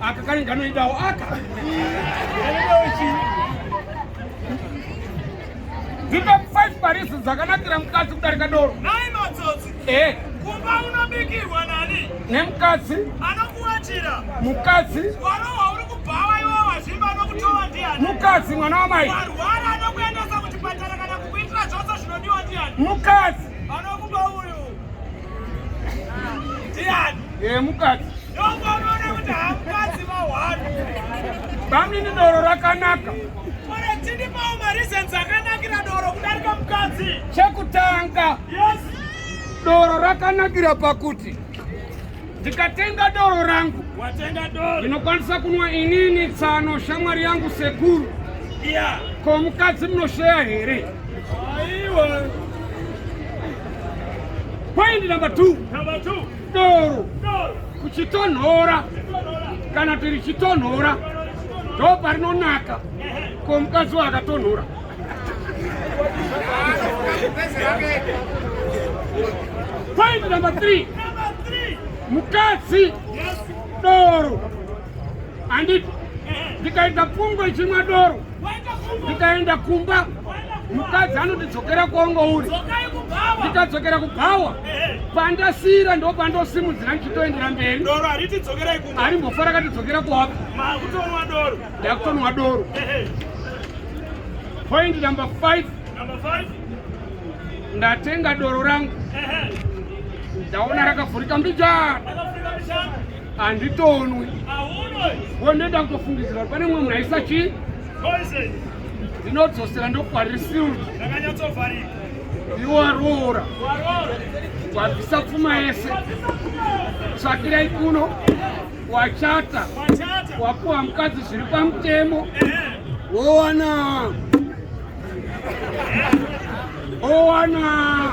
aka kani kanoidawo aka dzipe five parisi dzakanakira mukadzi kudarika doro nai matsotsi e eh. kumba unobikirwa nani nemukadzi anokuwatira mukadzi warohwa uri kubhawa iwo wazvimba anokutova ndiani mukadzi mwana wamai warwara anokuendesa kuchipatara kana kukuitira zvose zvinodiwa ndiani mukadzi anokuba uyu yemukadzi yongonoona kuti hamukadzi vahwani bamnini doro rakanaka ore tini pawo mareasons akanakira doro kudarika mukadzi chekutanga yes doro rakanakira pakuti ndikatenga doro rangu watenga doro ndinokwanisa kunwa inini tsano shamwari yangu sekuru iya ko mukadzi munosheya here aiwa Point number two. Number two. Doro. Doro. Kuchitonhora. Kana tiri chitonhora. Ndo parinonaka. Ko mukadzi akatonhora. Point number three. Number three. Mukadzi. Yes. Doro. anditi ndikaita pfungwa ichimwa doro ndikaenda kumba mukadzi anondidzokera kwongo uri ndikadzokera kubhawa pandasiyira ndo pandosimudzira ndichitoendera mberi arimbofara katidzokera kuwaka ndakutonwa doro point number five ndatenga doro rangu ndaona rakavhurika mbijana handitonwi wondoenda kutofungidzira pane mumwe munhu aisa chii ndinodzosera ndokwarisild iwaroora wabvisa pfuma yese tsvakirai kuno wachata wapuwa mukadzi zviri pamutemo wowana wowana